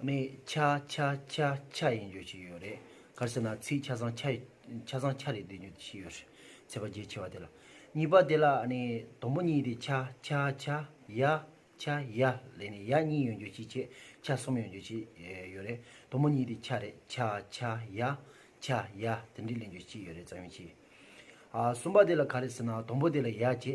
ནི་ཆ་ཆ་ཆ་ཆ་ཡིན་རྒྱུ་ཞིག་ཡོད་རེད་གར་སེ་ན་ཚིག་ཆ་ཚང་ཆ་ཆ་ཚང་ཆ་རེད་འདི་རྒྱུ་ཞིག་ཡོད་རེད་ཚེ་པ་རྒྱལ་ཆེ་བ་དེ་ལ་གཉིས་པ་དེ་ལ་ནི་དང་པོ་གཉིས་དེ་ཆ་ཆ་ཆ་ཡ་ཆ་ཡ་ལས་ནི་ཡ་གཉིས་ཡོད་རྒྱུ་ཞིག་ཆེ་ཆ་གསུམ་ཡོད་རྒྱུ་ཞིག་ཡོད་རེད་དང་པོ་གཉིས་དེ་ཆ་རེད་ཆ་ཆ་ཡ་ཆ་ཡ་དེ་འདྲི་ལེན་རྒྱུ་ཞིག་ཡོད་རེད་རྩ་ཡོན་ཆེ་ཨ་གསུམ་པ་དེ་ལ་ག་རེ་ཟེར་ན་དང་པོ་དེ་ལ་ཡ་ཆེ་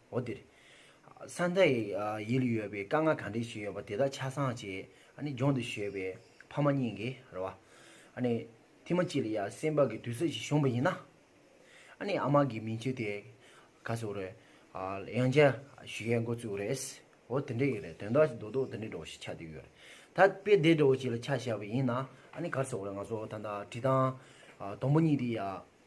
འོ་དེར། ས་མཐའི་ཡུལ་ཡོད་པའི་དཀའ་ངལ་གང་དྲན་བཞིན་ཡོད་པ་དེ་དག་ཆ་ཚང་བྱས། ལྗོངས་འདིར་བཞོས་པའི་ཕ་མ་གཉིས་ཀྱིས་རེད་བ། ཐེངས་མ་གཅིག་ལ་ཡང་སེམས་བག་གི་དུས་ཚོད་ཅིག་བྱུང་བ་ཡིན་ན། ཨ་མ་གི་མིང་ཆུ་དེ་ག་ཚོད་རེད། ཡང་བསྐྱར་བཞུ་ཡས་འགོ་བཙུགས་རེད། འོ་དེ་འདྲས་ཡོད་རེད་དོན་དག་ཅིག་རྡོག་རྡོག་དེ་འདྲས་འགྲོ་བ་ཞིག་ཆགས་བསྡད་ཡོད་རེད། ད་དཔེ་བདེ་འགྲོ་བ་ཞིག་ལ་ཆགས་བཞག་པ་ཡིན་ན། ག་ཚོད་རེད་ང་ཚོ་ད་ལྟ་བྲིས་ཐང། དང་པོ་གཉིས་དེ་ཡང།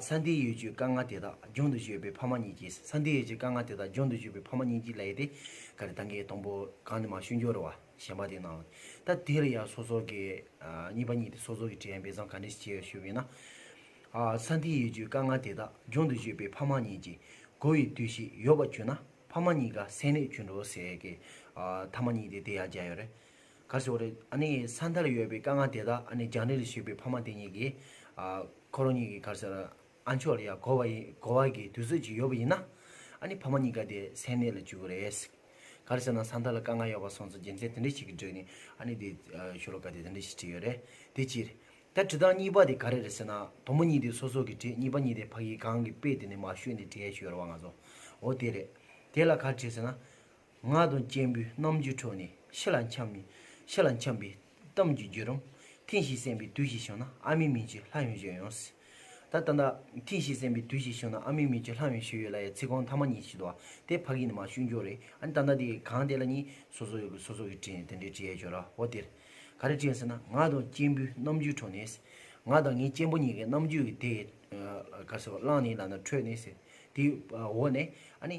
ས་འདིའི་ཡུལ་གྱི་དཀར་མངར་དེ་དག་རྒྱུན་དུ་སྤྱོད་པའི་ཕ་མ་གཉིས་ཀྱིས་ས་འདིའི་ཡུལ་གྱི་དཀར་མངར་དེ་དག་རྒྱུན་དུ་སྤྱོད་པའི་ཕ་མ་གཉིས་ཀྱིས་ལས་དེ་ག་རེ་དང་གི་དང་པོ་གང་ནས་མ་ཞུས་འགྱུར་བ་གཞན་པ་དེ་ནའང་ད་དེ་ལ་ཡང་སོ་སོ་གི་གཉིས་པ་གཉིས་ཏེ་སོ་སོ་གི་དྲན་པས་བཟང་ག་འདྲས་ཤེས་ཞུ་བས་ན། ས་འདིའི་ཡུལ་གྱི་དཀར་མངར་དེ་དག་རྒྱུན་དུ་སྤྱོད་པའི་ཕ་མ་གཉིས་ཀྱིས་བགོ་བའི་དུས་ཤིག་ཡོད་པར་གྱུར་ན་ཕ་མ་གཉིས་ཀ་སེམས་ནས་གྱུར་འགྲོ་ཟེར་གི་ཐ་མ་གཉིས་ཏེ་དེ་ཡང་རྒྱ་ཡོད་རེད། གར་སོང་རེད། ཨ་ནི་ས་མཐར་ཡོད་པའི་དཀའ་ངལ་དེ་དག་ཨ་ནི་རྒྱང་རིང་རུ་བཞུད་པའི་ཕ་མ་དེ་གཉིས་ཀྱིས། ཁོ་རང་གཉིས་ཀྱི་གར་སར་ཨ་མཆོག་ལ་ཡང་གོ་བ་ཡིན་གོ་བ་གི་དུས་ཚོད་ཅིག་ཡོད་པ་ཡིན་ན། ཨ་ནི་ཕ་མ་གཉིས་ཀ་དེ་སེམས་གནད་ལ་བཅུག་གི་རེད། གར་སོང་ན་ས་མཐར་ལ་དཀའ་ངལ་ཡོད་པ་སོང་ཚོ་རྒྱལ་མཚན་དེ་འདྲ་ཞིག་གི་འགྲོས་ནས་ཨ་ནི་དེ་ཤོ་ལོ་ཀ་དེ་དེ་འདྲ་ཞིག་བྲིས་ཡོད་རེད། དེ་ཕྱིར། ད་བྲིས་སྟངས་གཉིས་པ་དེ་ག་རེ་རེད་ཟེར་ན། དང་པོ་གཉིས་དེ་སོ་སོ་གིས་བྲིས་གཉིས་པ་གཉིས་དེ་ཕ་གིས་གང་གི་དཔེ་དེ་ནས་མ་ཤོད་ནས་བྲིས་ཡ་ཤོད་རེད་བ་ང་ཚོ་འོ་དེ་རེད། དེ་ལ་གར་བྲིས་ཟེར་ན། ངག་དང་སྐྱེས་བུའི་རྣམ་འགྱུར་འཕྲོག་ནས་ཕྱི་ལ་འཁྱམས་ནས་ཕྱི་ལ་འཁྱམས་པའི་གཏམ་གྱི་རྒྱུད་རང་ཐེངས་ཤིག་གསན་པའི་དུས་ཤིག་བྱུང་ན་ཨ་མའི་མིང་ཅིག་ལྷ་ཡོན་ཞུས་ཡོང་སྲིད། ད་ལྟ་ད་ཐེངས་ཤིག་གསན་པའི་དུས་ཤིག་བྱུང་ན་ཨ་མའི་མིང་ཅིག་ལྷ་ཡོན་ཞུས་ཡོད་ལ་ཡའི་ཚིག་རྐང་མཐའ་མ་གཉིས་ཤིག་དུ་བ་དེ་ཕ་གིས་ནི་མ་ཞུས་མགྱོགས་རེད་ཨ་ནི་ད་ནི་དེ་གང་དེ་ལ་གཉིས་སོ་སོ་གིས་སོ་སོ་གིས་དྲིས་ནས་དེ་འདྲའི་དྲི་ཡལ་ཆོག་ར་བ་དེར་ག་རེ་དྲིས་ཟེར་ན་ངག་དང་སྐྱེས་བུའི་རྣམ་འགྱུར་འཕྲོག་ནས། ང་དང་ངའི་གཅེན་པོ་གཉིས་ཀྱི་རྣམ་འགྱུར་གྱི་དེ་ག་ཟེར་བ་བླངས་ནས་ལག་ན་འཕྲོད་ནས། དེའི་འོག་ནས་ཨ་ནི།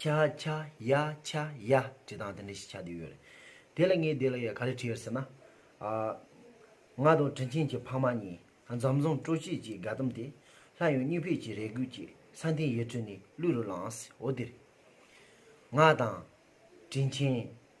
ཁྱ་ཁྱ་ཡ་ཁྱ་ཡ་ཅེས་དང་དེ་འདྲ་ཞིག་བྱ་འདོད་ཡོད་རེད། དེ་ལ་ངས་དེ་ལ་ཡང་ག་རེ་དྲིས་ཟེར་ན། ང་དང་དྲིན་ཆེན་གྱི་ཕ་མ་གཉིས་འཛམ་བཟང་སྤྲོ་སྐྱིད་ཀྱི་དགའ་དམ་དེ་ལྷ་ཡང་སྙིང་ཕེད་ཀྱི་རེ་སྒུག་ཀྱི་ས་མཐའི་ཡུལ་གྲུ་ནས་གླུད་རུ་ལངས་སོ་དེར། ང་དང། དྲིན་ཆེན།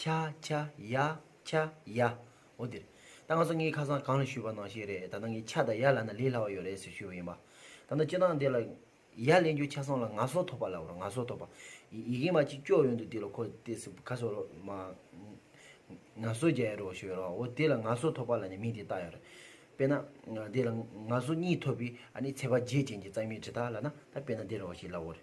ཁྱ་ཁྱ་ཡ་ཁྱ་ཡ། འོ་དེར། ད་ང་ཚོ་ངའི་ཁ་སང་གང་ལ་ཞུས་པ་ནང་བཤད་རེད་ད་ནང་ངས་ཁྱ་དང་ཡ་ལ་ན་ལས་སླ་བ་ཡོད་རེད་ཟེར་ཞུས་པ་ཡིན་པ། ད་ནང་སྤྱི་དང་སྡེ་ལ། ཡ་ལེན་རྒྱུ་ཁྱ་སང་ལ་ང་སོ་ཐོ་པ་ལབ་རོགས་ང་སོ་ཐོ་པ། ཡི་གེ་མ་ཅིག་ཀྱོག་ཡོད་འདུག་དེ་ལ་ཁོ་ལྟས་སུ་ཁ་སོ་རོགས་མ། ང་སོ་རྒྱལ་རོགས་ཞུས་རོགས་འོ་དེ་ལ་ང་སོ་ཐོ་པ་ལ་ནི་མིང་དེ་བཏགས་ཡོད་རེད། དཔེར་ན། དེ་ལ་ང་སོ་གཉིས་ཐོ་པའི་ཨ་ནི་ཚད་པ་བརྒྱད་ཅན་གྱི་གཙང་མའི་གྲི་ཐག་ལ་ན་ད་དཔེར་ན་དེ་རོགས་ཞེས་ལབ་འོ་རེད།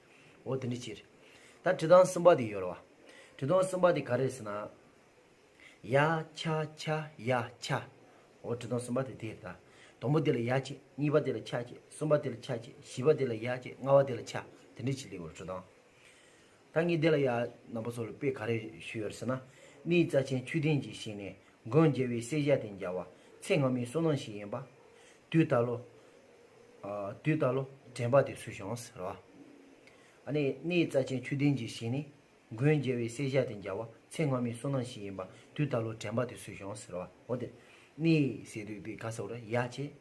འོ་དེ་འདྲའི་ཕྱིར། ད་དྲི་དང་གསུམ་པ་དེ་ཡོད་ལ། དྲི་དང་གསུམ་པ་དེ་ག་རེ་ཟེར་ན། ཡ་ཆ་ཆ་ཡ་ཆ། འོ་དྲི་དང་གསུམ་པ་དེ་དེ་རེད་ད། དང་པོ་དེ་ལ་ཡ་བྱས་གཉིས་པ་དེ་ལ་ཆ་བྱས་གསུམ་པ་དེ་ལ་ཆ་བྱས་བཞི་པ་དེ་ལ་ཡ་བྱས་ལྔ་བ་དེ་ལ་ཆ་དེ་འདྲའི་ཕྱིར་ལེའུ་རུ་དྲི་དང། ད་ངས་འདི་ལ་ཡ་ནང་པ་སོགས་ལ་དཔེ་ག་རེ་ཞུས་ཡོད་ཟེར་ན། མིའི་རྩ་ཆེན་མཆོད་རྟེན་གྱི་ཞིང་ནས་མགོན་རྒྱལ་བའི་སྲས་ཞབས་བརྟན་རྒྱལ་བ་ཚེ་སྔ་མའི་བསོད་ནམས་ཤིག་ཡིན་པ། དུས་ད་ལོ། དུས་ལྟ་ལོ། དྲན་པ་དེ་སུ་བྱུང་ཟེར་བ། གནས་རྩ་ཆེན་ཆུ་ལྡན་གྱི་ཞིང་ནི། མགོན་རྒྱལ་བའི་སྲས་ཞབས་དེ་འཇའ་བ། ཚེ་སྔ་མའི་བསོད་ནམས་ཤིག་ཡིན་པ། དུས་ལྟ་ལོ་དྲན་པ་དེ་སུ་བྱུང་ཟེར་བ། འོ་དེ། གནས་ཟེར་དུས་དེ་ག་ཟེར་བ་རེད་ཡ། བྱས།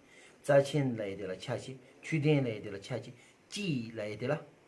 རྩ་ཆེན་ལ་ཡི་དེ་ལ་ཆ་བྱས། ཆུ་ལྡན་ལ་ཡི་དེ་ལ་ཆ་བྱས། སྐྱིད་ལ་ཡི་དེ་ལ།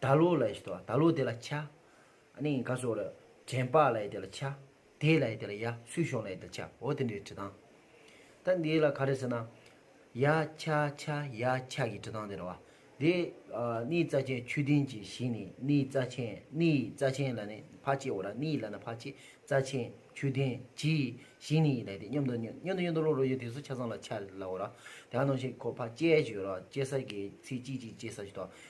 ད་ལོ་ལ་ཡི་ད་ལོ་དེ་ལ་ཆ། ནི་ག་སོ་ར་དྲན་པ་ལ་ཡི་དེ་ལ་ཆ། དེ་ལ་ཡི་དེ་ལ་ཡ་སུས་ཤོང་ལ་ཡི་དེ་ཆ་འོ་དེ་འདྲའི་བྲི་སྟངས། ད་འདི་ལ་ག་རེ་ཟེར་ན། ཡ་ཆ་ཆ་ཡ་ཆ་གི་བྲི་སྟངས་དེ་རེད་བ། དེ་ནི་རྩ་ཆེན་ཆུ་ལྡིང་གི་ཞིང་ནི་ནི་རྩ་ཆེན་ནི་རྩ་ཆེན་ལ་ནི་ཕ་ཆེ་འོ་ར་ནི་ལ་ན་ཕ་ཆེ་རྩ་ཆེན་ཆུ་ལྡིང་གི་ཞིང་ནི་ཡི་ལ་ཡི་དེ་སྙོམ་དུ་སྙོམ་སྙོམ་དུ་སྙོམ་དུ་ལོ་ལོ་ཡོད་དེ་སུ་ཆ་ཚང་ལ་ཆ་ལ་འོ་ར་དེ་ཡང་ནང་བཞིན་གོ་ཕ་ཅལ་གྱི་ཡོད་ར་ཅལ་ས་གི་ཚིག་གཅིག་གཅིག་ཅལ་ས་གྱི་ད